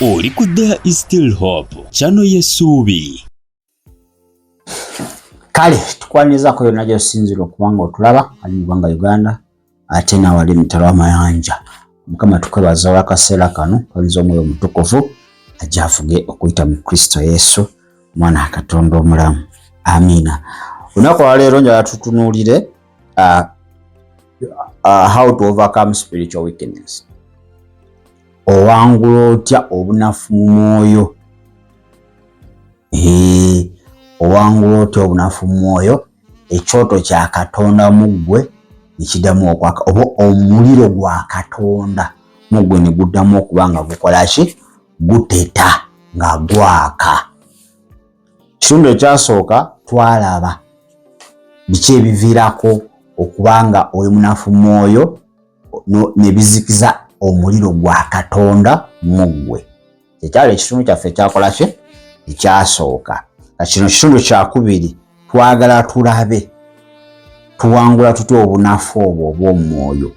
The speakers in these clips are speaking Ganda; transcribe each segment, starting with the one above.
oli ku there is still hope kyano yesuubi kale tukwanyizaako yonna gyosinzira okubanga otulaba ali mu ggwanga uganda ate nawali mutalo amayanja mukama tukwebaza olwakaseera kano kwanyiza omwoyo omutukuvu ajafuge okuyita mu kristo yesu mwana katonda omulamu amiina olunaku olwaleero njala tutunuulire uh, uh, how to overcome spiritual weakness owangula otya obunafu mu mwoyo owangula otya obunafu mu mwoyo ekyoto kya katonda mu ggwe nekidamu okwaka oba omuliro gwa katonda mu ggwe ne guddamu okuba nga gukola ki guteta nga gwaka Ekitundu ekyasooka twalaba biki ebiviirako okuba nga oli munafu mwoyo ne bizikiza omuliro gwa Katonda mu ggwe. Kyekyali ekitundu kyaffe ekyakola kye ekyasooka. Ka kino kitundu kyakubiri twagala tulabe tuwangula tutya obunafu obwo obw'omwoyo.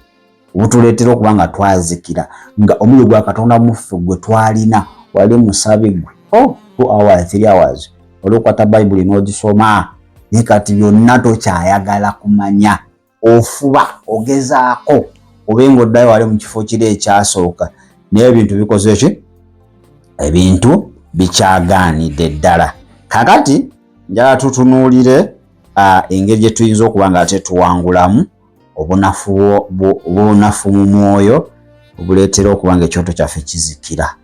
obutuleetera okuba nga twazikira nga omuliro gwa katonda muffe gwe twalina wali musabi gwe oh, two hours three hours olwokwata bayibuli n'ogisoma naye kati byonna tokyayagala kumanya ofuba ogezaako obe nga oddayo wali mu kifo kiri ekyasooka naye ebintu bikoze ki ebintu bikyagaanidde ddala kakati njala tutunuulire engeri gye tuyinza okuba nga tetuwangulamu obunafu mu mwoyo obuleetera okuba nga ekyoto kyaffe kizikira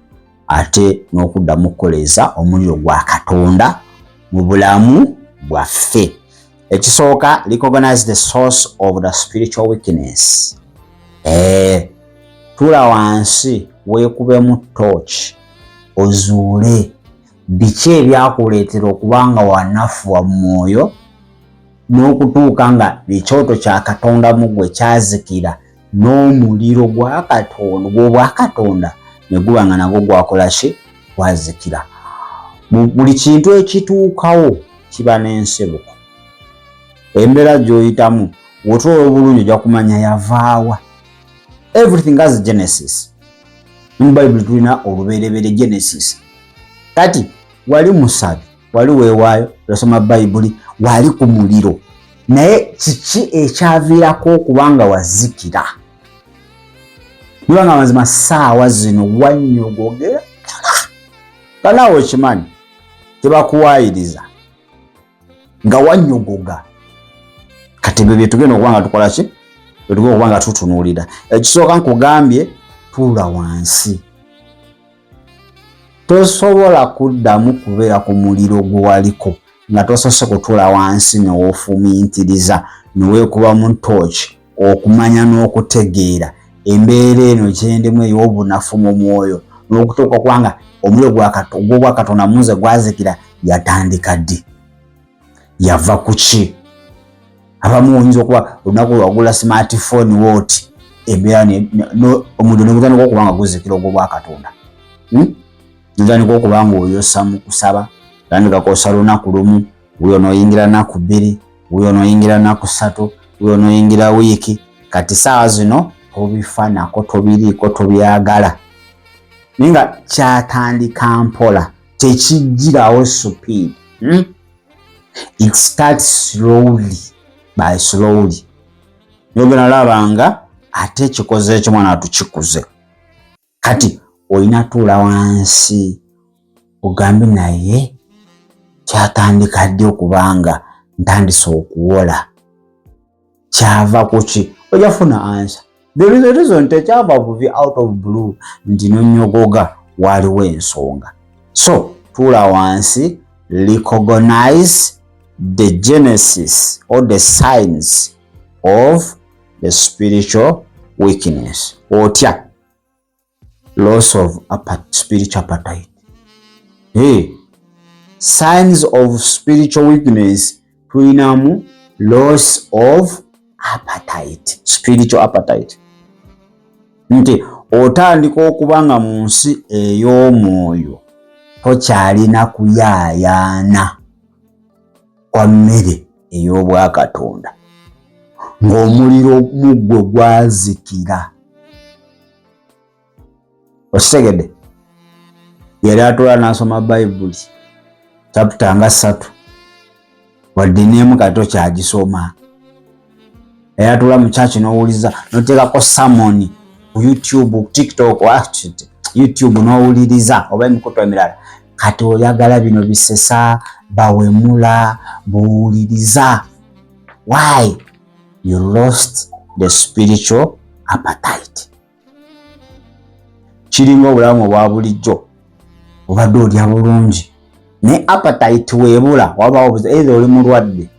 ate n'okuddamu okukoleeza omuliro gwa katonda mu bulamu bwaffe ekisooka recognize the source of the spiritual weakness eh, tula wansi weekubemu torch ozuule Biki ebyakuleetera okuba nga wanafuwa mu mwoyo n'okutuuka nga ekyoto kya Katonda mu gwe kyazikira n'omuliro gwa Katonda gw'obwa Katonda ne guba nga nagwo gwakola ki gwazikira? Mu buli kintu ekituukawo kiba n'ensibuko. Embeera gy'oyitamu wotula obulungi ojja kumanya yavaawa. Everything has genesis. mu bayibuli tulina olubereberye genesis kati wali musabi wali wewaayo osoma bayibuli wali ku muliro naye kiki ekyaviirako okubanga wazikira nibanga mazima saawa zino wanyogogera kanaawe okimanyi tebakuwaayiriza nga wanyogoga kati ebyo byetugenda okuba nga tukola ki byetuga okuba nga tutunuulira ekisooka nkugambye tuula wansi tosobola kuddamu kubeera ku muliro gwe waliko nga tosose kutuula wansi newofumintiriza newekubamu tooki Okumanya n'okutegeera embeera eno gyendemu ey'obunafu mu mwoyo n'okutuuka kuba nga omuliro gw'obwa Katonda munze gwazikira yatandika ddi? Yava ku ki? Abamu oyinza okuba olunaku lwagula smartphone wooti embeera omuliro ne gutandika okuba nga guzikira ogw'obwa Katonda. Hmm? Gutandika okuba ng'oyosa mu kusaba, tandika kwosa lunaku lumu. wuyo noyingira naku bbiri wuyo noyingira naku satu wuyo noyingira wiiki kati saawa zino tobifanako tobiriiko tobyagala naye nga kyatandika mpola tekijjirawo supid hmm? it starts slowly by slowly yogena laba nga ate ekikoze ekyo mwana tukikuze kati olina tuula wansi ogambe naye kyatandika ddi okubanga ntandise okuwola kyava kuki oja funa ansa thereason tekyava buvi out of blue nti nonyogoga waliwo ensonga so tuula wansi recognize the genesis or the signs of the spiritual weakness otya loss of spiritual appetite hey, signs of spiritual weakness tulinamu loss of appetite spiritual appetite nti otandika okuba nga mu nsi ey'omwoyo tokyalina kuyaayaana kwa mmere ey'obwakatonda ng'omuliro mu ggwe gwazikira okitegedde yali atwala n'asoma bayibuli caputa nga ssatu wadde n'emu kati okyagisoma eyatula mu church n'owuliza noteekako samoni ku youtube tiktok youtube n'owuliriza oba emikutu emirala kati oyagala bino bisesa bawemula buwuliriza why you lost the spiritual appetite kiringa obulamu obwa bulijjo obadde olya bulungi naye apatayiti weebula wabaawo buza eitha oli mulwadde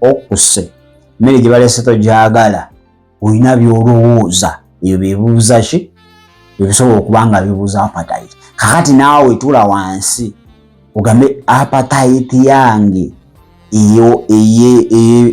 okuse mmere gye baleese togyagala olina byolowooza ebyo bibuuza ki ebisobola okuba nga bibuuza apatayiti kakati naawe tula wansi ogambe apatayiti yange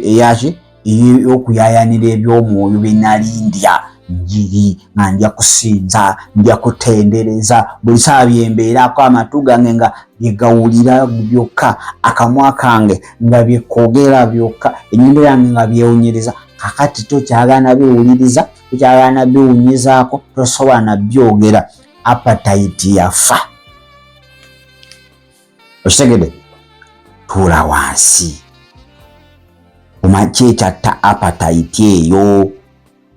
eyaki ey'okuyayanira eby'omwoyo bye nali ndya njiri nga ndya kusinza ndya kutendereza buli saa byembeerako amatu gange nga byegawulira byokka akamwa kange nga byekoogera byokka enyindo yange nga byewunyiriza kakati tokyagana biwuliriza tokyagana biwunyizaako tosobola nabyogera apatayiti yafa okitegede tuula wansi omakyekyatta apatayiti eyo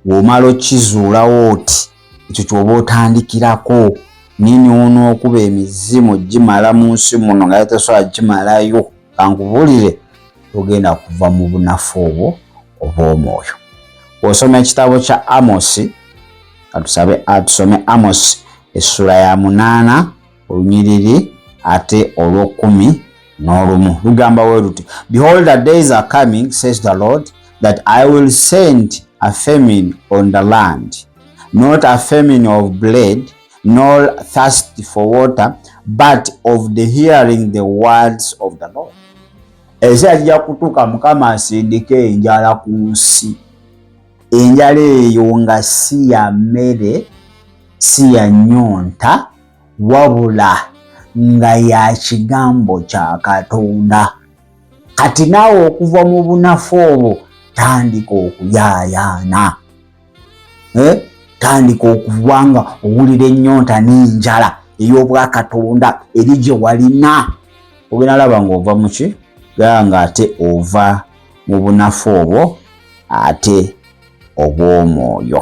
womala okizuulawo oti ekyo kyoba otandikirako nini ono okuba emizimu gimala mu nsi muno nga yatasobola gimalayo kankubulire togenda kuva mu bunafu obwo obwomwoyo osoma ekitabo kya amosi atusabe atusome amosi essula ya munaana olunyiriri ate olw'okkumi n'olumu lugamba we luti behold the days are coming says the lord that i will send a famine on the land not a famine of blade nor thirst for water but of the hearing the words of the lord ekiseera kijja kutuuka mukama asindika enjala ku nsi enjala eyo nga si ya mmere si ya nyonta wabula nga ya kigambo kya katonda kati naawe okuva mu bunafu obwo tandika okuyaayaana eh? tandika okuba nga owulira ennyonta n'enjala ey'obwakatonda eri gye walina ogenda laba ng'ova muki gaa nga ate ova mu bunafu obwo ate obw'omwoyo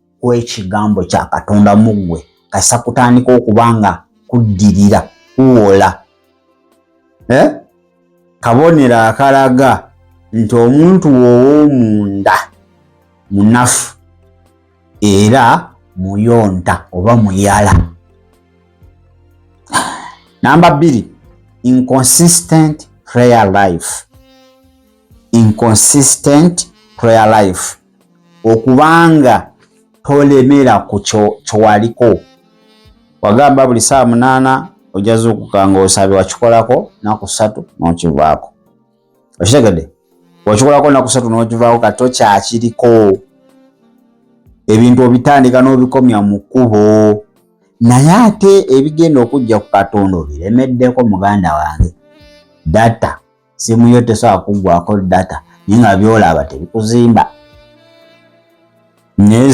w'ekigambo kya katonda mu ggwe kasa kutandika okuba nga kuddirira kuwola eh? kabonero akalaga nti omuntu wowomunda munafu era muyonta oba muyala namba bbiri inconsistent prayer life inconsistent prayer life okubanga tolemera ku kyowaliko wagamba buli saa munaana ojazuukuka nga osabye wakikolako naku satu nokivaako okitegede wakikolako naku satu nokivaako kati tokyakiriko ebintu obitandika n'obikomya mu kkubo naye ate ebigenda okujja ku katonda obiremeddeko muganda wange data simu yo tesobola kuggwako data naye nga byolaba tebikuzimba naye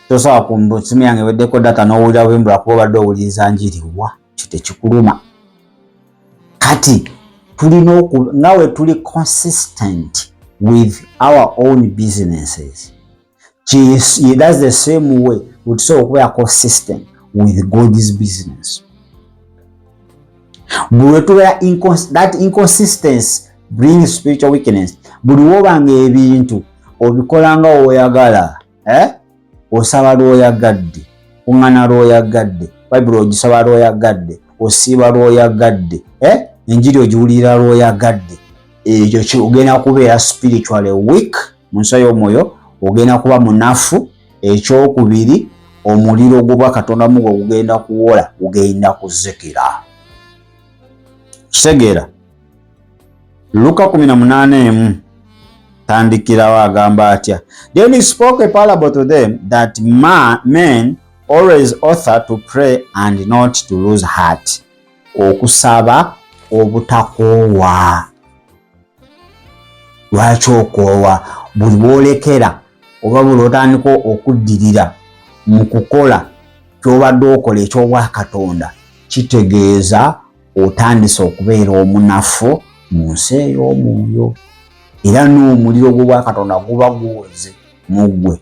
tosobola kumbu simu yange weddeko data n'owulira bwembula kuba obadde owuliriza njiriwa kyo tekikuluma kati tulina oku nga we tuli consistent with our own businesses She, she does the same way with so okubeera consistent with God's business. Buli tubeera that inconsistency brings spiritual weakness. Buli woba nga ebintu obikola nga oyagala eh? osaba lwoyagadde ungana lwoyagadde bayibuli ogisaba lwoyagadde osiiba lwoyagadde eh? enjiri ogiwulira lwoyagadde ekyo kyogenda kubeera spiritually weak mu nsi ey'omwoyo ogenda kuba munafu ekyokubiri omuliro ogubwa katonda mugo ogugenda kuwola gugenda kuzikira kitegeera luka 18 emu tandikirawo agamba atya then he spoke a parable to them that ma, men always author to pray and not to lose heart okusaba obutakoowa lwaki okoowa buli bwolekera oba buli otandika okuddirira mu kukola kyobadde okola ekyobwakatonda kitegeeza otandise okubeera omunafu mu nsi ey'omwoyo era n'omuliro gw'obwakatonda guba guwoze mu ggwe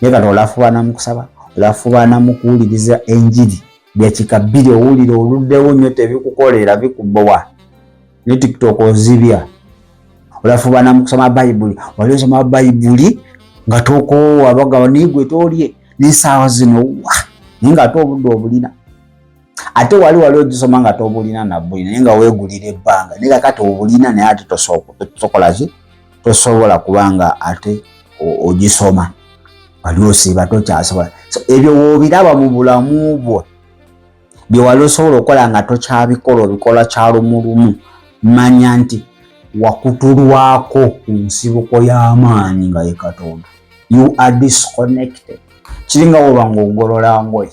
naye kati olafubaana mu kusaba olafubaana mu kuwuliriza enjiri dakika bbiri owulira oluddewo nnyo tebikukolera bikubowa ne tiktok ozibya olafubaana mu kusoma bayibuli wali osoma bayibuli nga tokoowa bagaba naye gwe tolye n'esaawa zino wa naye nga ate obudde obulina ate wali wali ogisoma nga tobulina nabuli naye nga wegulira ebbanga naye kakati obulina naye ate tosokolaki tosobola kubanga ate ogisoma wali osiiba tokyasobola so ebyo wobiraba mu bulamu bwo byewali osobola okukola nga tokyabikola obikola kyalumulumu manya nti wakutulwako ku nsibuko y'amaanyi nga ye katonda you are disconnected kiringa woba nga ogolola ngoye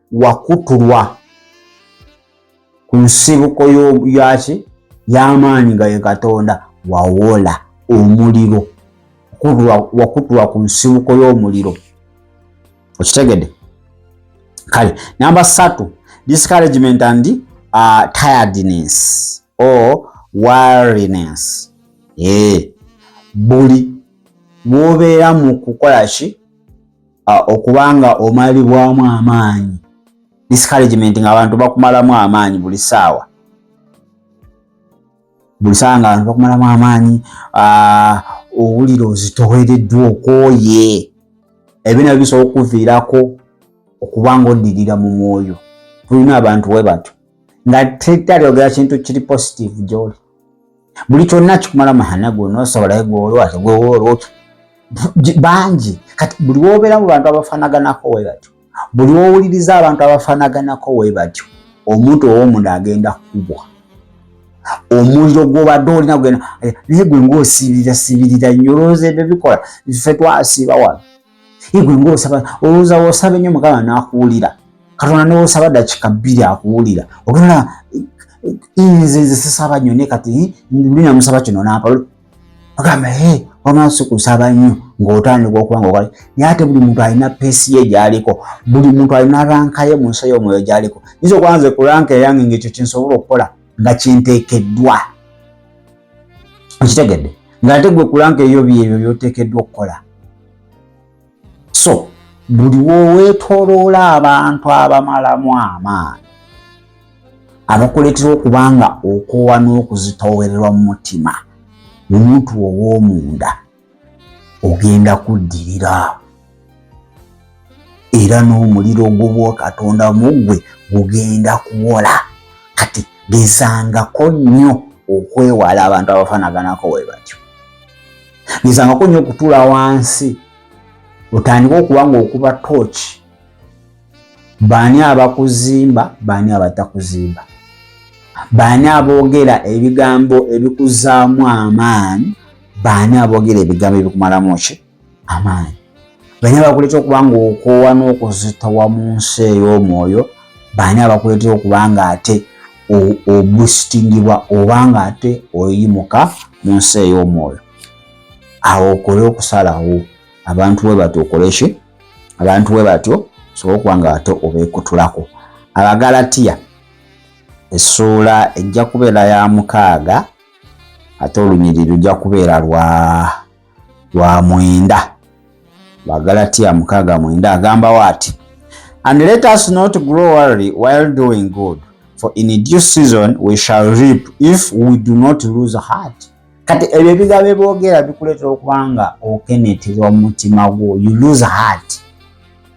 wakutulwa ku nsibuko yaki y'amaanyi nga ye katonda wawola omuliro wakutulwa ku nsibuko y'omuliro okitegede kale namba satu discouragement and uh, tiredness or wariness ee eh, buli bwobeera mu kukola ki uh, okuba nga omalibwamu amaanyi discouragement nga abantu bakumalamu amaanyi buli saawa buli saawa nga abantu bakumalamu amaanyi uh, owulira ozitowereddwa okooye ebyo nabyo bisobola okukuviirako okuba nga oddirira mu mwoyo tulina abantu we batyo nga tetalyogera kintu kiri positive gyoli buli kyonna kikumala mahana gona osobolayo gwolwa tegwewolwa bangi kati buli wobeera mu bantu abafanaganako we batyo buli wowuliriza abantu abafanaganako we batyo omuntu owomunda agenda kukubwa omuliro gwobadde olina gugenda naye gwe ngaosibirira sibirira nyo olowooza ebyo bikola ffe twasiiba wano igwe ng'osaba olowooza w'osaba ennyo mukama n'akuwulira katonda n'osaba dakika bbiri akuwulira ogenda nze nze sisaba nnyo naye kati luli namusaba kino naapa ogamba e wamaaso kusaba nnyo ng'otandika okuba ngaoka naye ate buli muntu alina peesi ye gyaliko buli muntu alina ranka ye mu nsi ey'omwoyo gyaliko nyinza okuba nze ku ranka eyange ng'ekyo kyensobola okukola nga kinteekeddwa okitegedde ng'ate gwe kulanga eyo byebyo byoteekeddwa okukola so buli woweetoloola abantu abamalamu amaanyi abakuleetera okuba nga okoowa n'okuzitoowererwa mu mutima omuntu ow'omunda ogenda kuddirira era n'omuliro ogw'obwakatonda mu ggwe gugenda kuwola kati gezangako nnyo okwewala abantu abafanaganako we batyo gezangako nnyo okutuula wansi otandika okuba ngaokuba tooki baani abakuzimba baani abatakuzimba baani aboogera ebigambo ebikuzaamu amaanyi baani abogera ebigambo ebikumalamu ki amaanyi baani abakuleeta okuba nga okoowa n'okuzitowa mu nsi ey'omwoyo baani abakuleetera okuba nga ate obustingibwa oba nga ate oyimuka mu nsi ey'omwoyo awo okole okusalawo abantu we batyo okoleki abantu we batyo sobola okuba nga ate obeekutulako abagalatiya essuula ejja kubeera ya mukaaga ate olunyiriri lujja kubeera lwa lwa mwenda bagalatiya mukaaga mwenda agambawo ati and let us not grow worry while doing good for in due season we shall reap if we do not lose heart kati ebyo ebigambo ebyogera bikuleetera okubanga okeneterwa mu mutima gwo you lose heart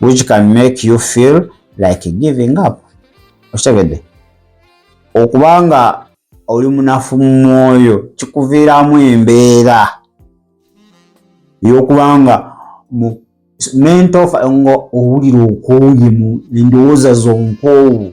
which can make you feel like giving up okitegedde okuba nga oli munafu mu mwoyo kikuviiramu embeera ey'okuba nga mu mento nga owulira okooye mu endowooza zonkoowu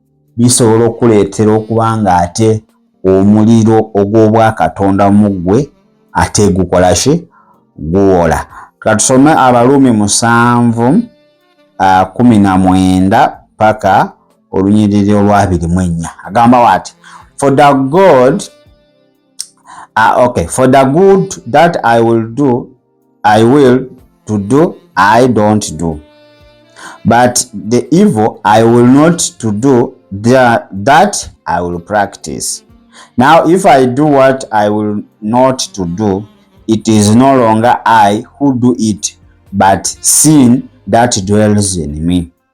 bisobola okuleetera okuba ng'ate omuliro ogw'obwakatonda mu ggwe ate gukola ki guwola katusome abaluumi musanvu kumi na mwenda paka olunyiriri olwabiri mu ennya agamba wati for the god uh, okay for the good that i will do I will to do I don't do but the evil I will not to do that, that I will practice now if I do what I will not to do it is no longer I who do it but sin that dwells in me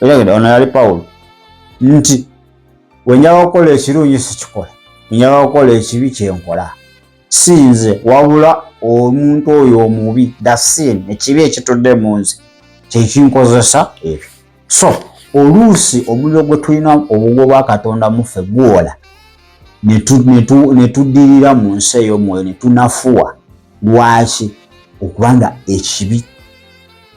Otegedde ono yali Pawulo nti wenjaba okukola ekirungi sikikola, wenjaba okukola ekibi kyenkola sinze wabula omuntu oyo omubi dasin ekibi ekitudde mu nze kyekinkozesa ebyo so oluusi omuliro gwe tulina obugo bwa katonda muffe gwola netuddirira mu nsi ey'omwoyo netunafuwa lwaki okubanga ekibi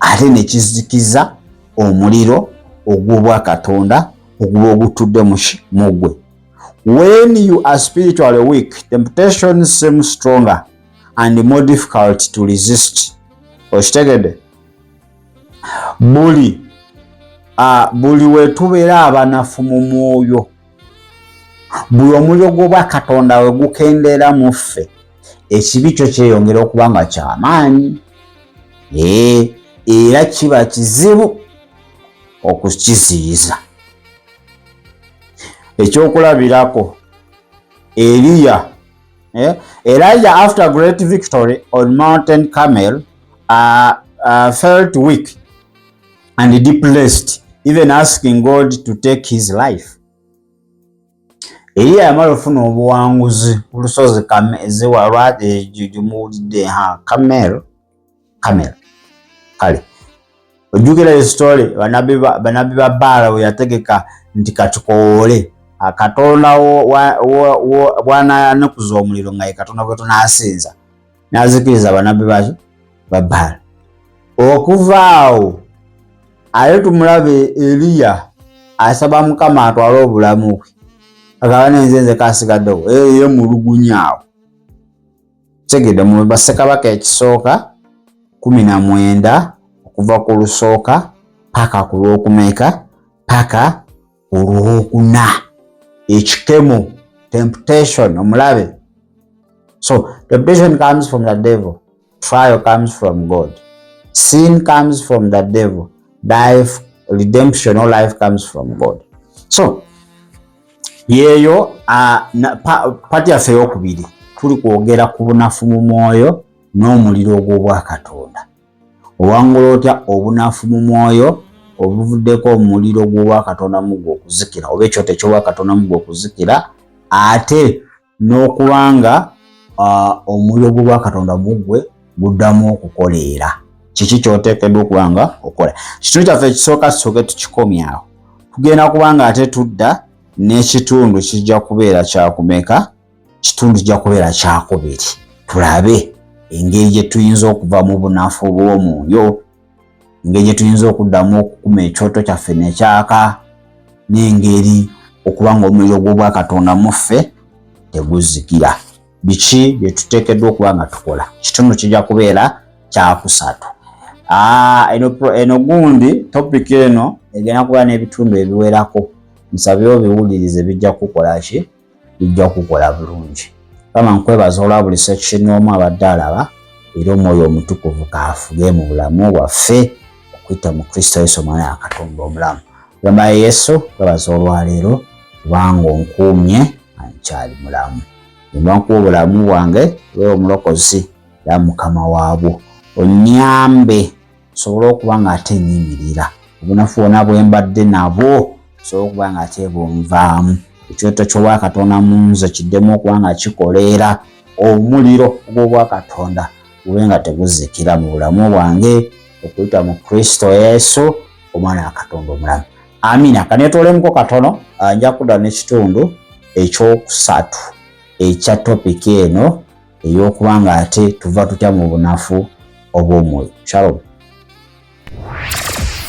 ate ne kizikiza omuliro ogw'obwa Katonda oguba ogutudde mu gwe. When you are spiritually weak, temptation seems stronger and more difficult to resist. Okitegede? Buli, uh, buli wetubeera abanafu mu mwoyo, buli omuliro gw'obwa katonda we gukendeera mu ffe ekibi kyo kyeyongera okuba nga kyamaanyi ee era kiba kizibu okukiziyiza ekyokulabirako eliya eh, elijah after great victory on mountain camel uh, uh, felt weak and depressed even asking God to take his life. Eliya yamala ofuna obuwanguzi ku lusozi ziwa lwagimuwulidde ha kamel kamel kale ojjukira esitole banabbi ba baala we yategeka nti katukowoole katonda bwananukuza omuliro nga ye katonda gwe tunaasinza n'azikiriza banabbi baaki ba bbaala okuva awo ate tumulabe eliya asaba mukama atwale obulamu bwe agaba nenze nze kasigaddewo eye mulugunya awo tegede mu basekabaka ekisooka kumi na mwenda okuva ku lusooka paka ku lwokumeeka paka olwokuna ekikemo temptation omulabe so temptation comes from the devil trial comes from god sin comes from the devil life redemption or life comes from god so yeeyo uh, pati yaffe eyokubiri tuli kwogera ku bunafu mu mwoyo n'omuliro ogw'obwakatonda Owangula otya obunafu mu mwoyo obuvuddeko omuliro gw'obwakatonda mu gwe okuzikira oba ekyoto eky'obwakatonda mu gwe okuzikira ate n'okuba nga omuliro gw'obwakatonda mu gwe guddamu okukoleera kiki kyoteekeddwa okuba nga okola kitundu kyaffe ekisooka tusoke tukikomyawo tugenda kuba nga ate tudda n'ekitundu kijja kubeera kyakumeka kitundu kijja kubeera kyakubiri tulabe engeri gye tuyinza okuva mu bunafu bw'omwoyo engeri gye tuyinza okuddamu okukuma ekyoto kyaffe nekyaka n'engeri okuba nga omuliro gw'obwakatonda mu ffe teguzikira biki bye tuteekeddwa okuba nga tukola kitundu kijja kubeera kyakusatu ah, eno gundi topiki eno egenda kuba n'ebitundu ebiwerako nsabye obiwulirize bijja kukukola ki bijja kukola bulungi kama nkwebaza olwa buli section omu abadde alaba era omwoyo omutukuvu kaafuge mu bulamu bwaffe okuyita mu kristo yesu omwana yakatonda omulamu gamba yesu kwebaza olwaleero kubanga onkuumye ankyali mulamu embankuwa obulamu bwange era omulokozi era mukama waabwo onyambe nsobole okuba ng'ate nyimirira obunafu bona bwe mbadde nabwo nsobole okuba ng'ate bunvaamu ekyoto ky'obwakatonda mu nze kiddemu okuba nga kikoleera omuliro ogw'obwakatonda gube nga teguzikira mu bulamu bwange okuyita mu kristo yesu omwana wa katonda omulamu amina kanetolemuko katono ah, nja kudda n'ekitundu ekyokusatu ekya topiki eno ey'okuba ng'ate tuva tutya mu bunafu obw'omwoyo shalom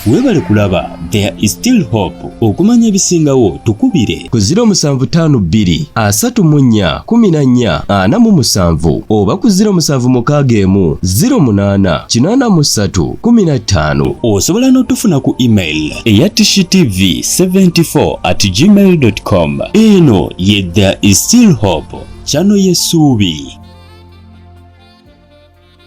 webale kulaba there is still hope okumanya ebisingawo tukubire ku 0752341447 oba ku 0761748315 osobola n'otufuna ku email eya tishitv74 at gmail.com eno ye there is still hope Chano Yesubi.